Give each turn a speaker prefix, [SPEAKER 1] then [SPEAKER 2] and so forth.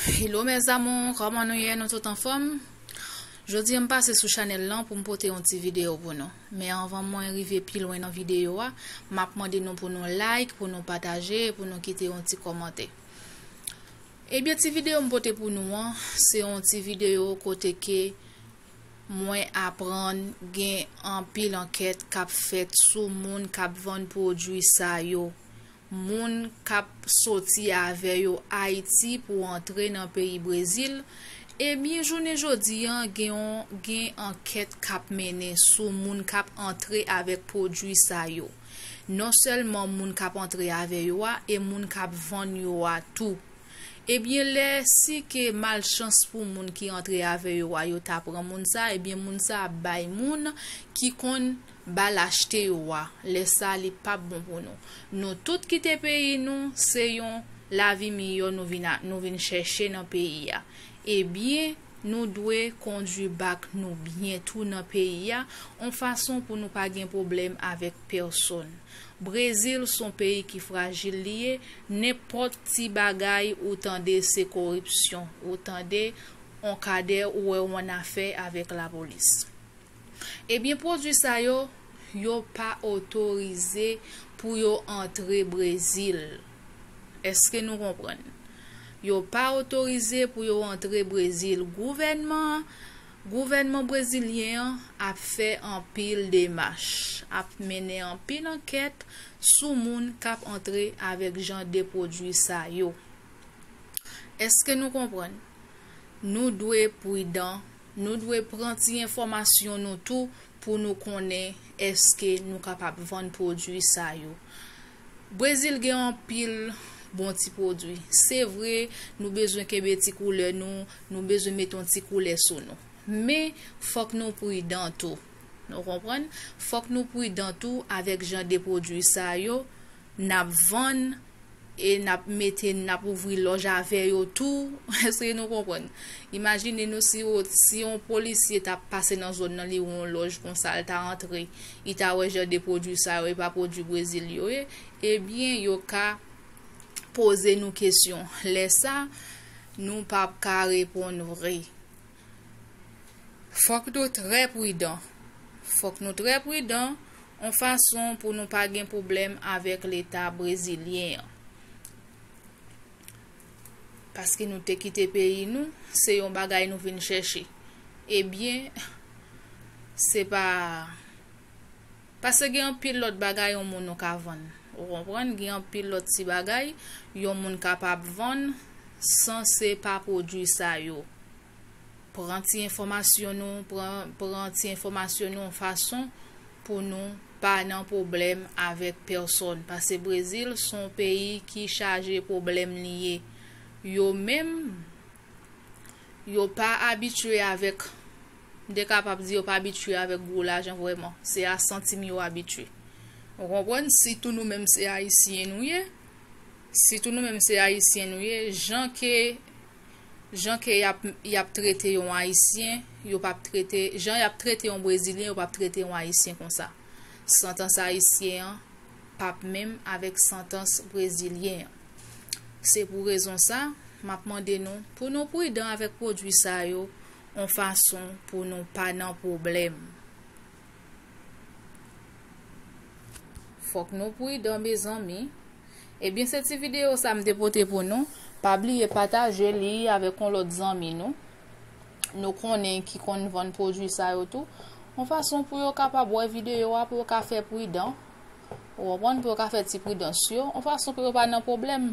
[SPEAKER 1] Hello mes amours, kòman nou ye? Nou tout anfòm? Jodi m pase sou chanel lan pou m pote yon ti video pou nou. Men anvan mwen rive pi lwen nan video a, m ap mande nou pou nou like, pou nou pataje, pou nou kite yon ti kòmante. Ebyen ti video m pote pou nou an, se yon ti video kote ke mwen aprann gen anpil ankèt k ap fèt sou moun k ap vann pwodwi sa yo. moun kap soti avè yo Ayiti pou antre nan peyi Brezil, ebyen jounen jodi an gen yon gen ankèt kap mennen sou moun kap antre avèk pwodwi sa yo. Non sèlman moun kap antre avè yo a e moun kap vann yo a tou. Ebyen lè si ke malchans pou moun ki antre avè yo a yo ta pran moun sa ebyen moun sa ap bay moun ki konn Ba l achte yo wa. Lè sa li pap bon pou nou. Nou tout kite peyi nou se yon lavi miyò nou vin nou vin chèche nan peyi a. E byen nou dwe kondwi bak nou byen tou nan peyi a on fason pou nou pa gen pwoblèm avèk pèsonn. Brezil son peyi ki frajil li ye nenpòt ti bagay ou tande se koripsyon ou tande on kadè ou wè on afè avèk lapolis. Ebyen pwodwi sa yo, yo pa otorize pou yo antre Brezil. Eske nou konprann? Yo pa otorize pou yo antre Brezil. Gouvènman an, gouvènman brezilyen an ap fè anpil demach, ap mennen anpil ankèt sou moun k ap antre avèk jan de pwodwi sa yo. Eske nou konprann? Nou dwe pridan. Nou dwe pran ti enfòmasyon nou tou pou nou konnen èske nou kapab vann pwodui sa yo. Brezil gen anpil bon ti pwodui. Se vre, nou bezwen kenbe ti koulè nou, nou bezwen met yon ti koulè sou nou. Men, fòk nou pridan tou. Nou konprann? Fòk nou pridan tou avèk jan de pwodui sa yo. N ap vann e n ap mete n ap ouvri lòj avè yo tou. Èske nou konprann? Imajine nou si yo si yon polisye ta pase nan zòn nan li wè yon lòj konsa l ta antre li ta wè jan de pwodui sa yo e pa pwodui Brezil yo ye ebyen yo ka poze nou kesyon lè sa nou p ap ka reponn vre. Fòk nou trè pridan. Fòk nou trè pridan on fason pou nou pa gen pwoblèm avèk leta brezilyen an. Paske nou te kite peyi nou, se yon bagay nou vin chèche. Ebyen, se pa Paske gen anpil lòt bagay yon moun ou ka vann. Ou konprann? Gen anpil lòt ti bagay yon moun kapab vann san se pa pwodui sa yo. Pran ti enfòmasyon nou, pran ti enfòmasyon nou yon fason pou nou pa nan pwoblèm avèk pèsòn. Pase Brezil son peyi ki chaje pwoblèm li ye. Yo menm yo pa abitye avèk, m te kapab di yo pa abitye avèk gwo lajan vrèman, se a santim yo abitye. Ou konprann, sitou nou menm se ayisyen nou ye, sitou nou menm se ayisyen nou ye, jan ke, jan ke yap, yap trete yon ayisyen, yo pap trete, jan yap trete yon brezilyen yo pap trete yon ayisyen konsa. Santans ayisyen an pap menm avèk santans brezilyen an. Se pou rezon sa, m ap mande nou pou nou pridan avèk pwodui sa yo on fason pou nou pa nan pwoblèm. Fòk nou pridan mezanmi. Ebyen se ti videyo sa m te pote pou nou. Pa bliye pataje li avèk on lòt zanmi nou, nou konnen ki konn vann pwodui sa yo tou. On fason pou yo kapab wè videyo a pou yo ka fè pridan. Ou konprann pou yo ka fè ti pridans yo, yon fason pou yo pa nan pwoblèm.